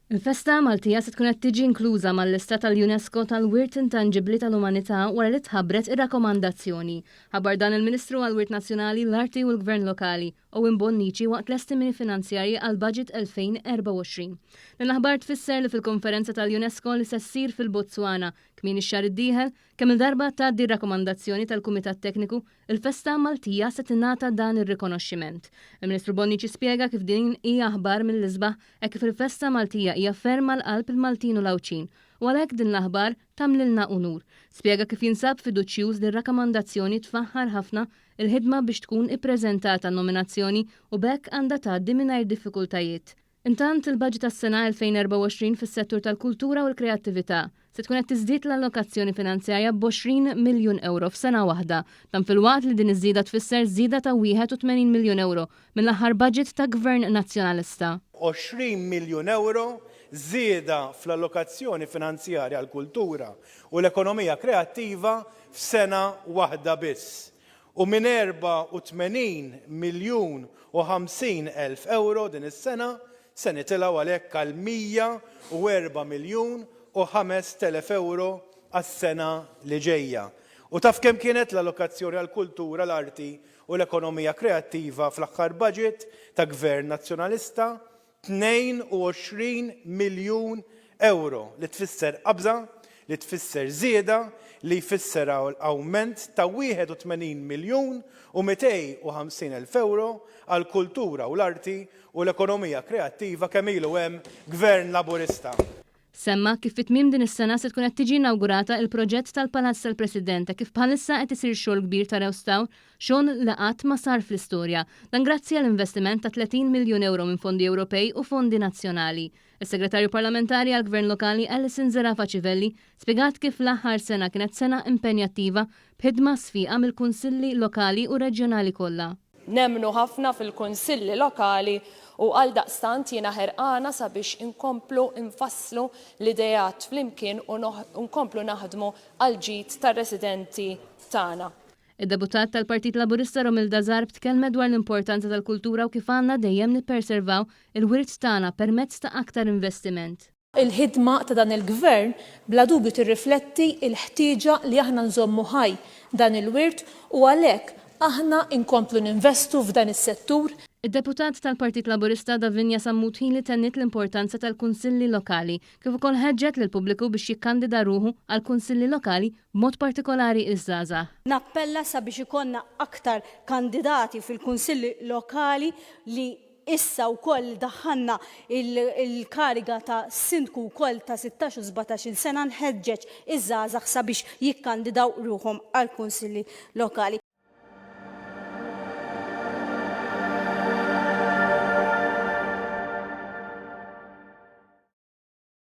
Il-festa Maltija se tkun qed tiġi inkluża mal-lista tal-UNESCO tal-Wirt Intanġibbli tal-Umanità wara li tħabbret ir-rakkomandazzjoni. Ħabbar dan il-Ministru għall-Wirt Nazzjonali, l-Arti u l-Gvern Lokali, Owen Bonnici waqt l-estimini finanzjarji għall-Budget 2024. Din l-aħbar tfisser li fil-konferenza tal-UNESCO li se ssir fil-Botswana kmieni x-xahar id-dieħel, kemm-il darba tgħaddi r-rakkomandazzjoni tal-Kumitat Tekniku Il-festa Maltija se tingħata dan ir-rikonoxximent. Il-Ministru Bonnici spjega kif din hi aħbar mill-isbaħ hekk kif il-festa Maltija hija ferm għal qalb il-Maltin u l-Għawdxin u għalhekk din l-aħbar tagħmlilna unur. Spjega kif jinsab fiduċjuż li r-rakkomandazzjoni tfaħħar ħafna il-ħidma biex tkun ippreżentata n-nominazzjoni u b'hekk għandha tgħaddi mingħajr diffikultajiet. Intant, il-baġit għas-sena 2024 fis-settur tal-kultura u l-kreattività se tkun qed tiżdied l-allokazzjoni finanzjarja b'għoxrin miljun ewro f'sena waħda. Dan filwaqt li din iż-żieda tfisser żieda ta' 81 miljun ewro mill-aħħar baġit ta' Gvern Nazzjonalista. Għoxrin miljun ewro żieda fl-allokazzjoni finanzjarja għall-kultura u l-ekonomija kreattiva f'sena waħda biss. u minn 84 miljun u 50 elf ewro din is-sena se nitilgħu għalhekk għal 104 miljun u ħamest elef ewro għas-sena li ġejja. U taf kemm kienet l-allokazzjoni għall-kultura, l-arti u l-ekonomija kreattiva fl-aħħar budget ta' Gvern Nazzjonalista 22 miljun ewro li tfisser qabża, li tfisser żieda, li jfisser awment ta' 81 miljun u 250 elf ewro għall-kultura u l-arti u l-ekonomija kreattiva kemm ilu hemm Gvern Laburista. Semma kif fi tmiem din is-sena se tkun qed tiġi inawgurata il-proġett tal-Palazz tal-President e kif bħalissa qed isir xogħol kbir ta' rewstaw, xogħol li qatt ma sar fl-istorja. Dan grazzi għal investiment ta' 30 miljun ewro minn fondi Ewropej u fondi nazzjonali. Is-Segretarju Parlamentari għall-Gvern Lokali Alison Zerafa Civelli spjegat kif l-aħħar sena kienet sena impenjattiva b'ħidma sfiqa mill-Kunsilli Lokali u Reġjonali kollha. Nemmnu ħafna fil-kunsilli lokali u għaldaqstant jiena ħerqana sabiex inkomplu nfasslu l-ideat flimkien u nkomplu naħdmu għall-ġid tar-residenti tagħna. Id-Deputat tal-Partit Laburista Romilda Zarb tkellmet dwar l-importanza tal-kultura u kif għandna dejjem nipperservaw il-wirt tagħna permezz ta' aktar investiment. Il-ħidma ta' dan il-Gvern bla dubju tirrifletti l-ħtieġa li aħna nżommu ħaj dan il-wirt u għalhekk aħna nkomplu ninvestu f'dan is-settur. Id-Deputat tal-Partit Laburista Davinia Sammut-Hili tenniet l-importanza tal-Kunsilli Lokali kif ukoll ħeġġet lill-pubbliku biex jikkandida ruħu għall-Kunsilli Lokali b'mod partikolari ż-żgħażagħ. Nappella sabiex ikollna aktar kandidati fil-Kunsilli Lokali li Issa wkoll daħħalna l-kariga ta' sindku wkoll ta' sittax u sbatax-il sena nħeġġeġ iż-żgħażagħ sabiex jikkandidaw ruħhom għall-kunsilli lokali.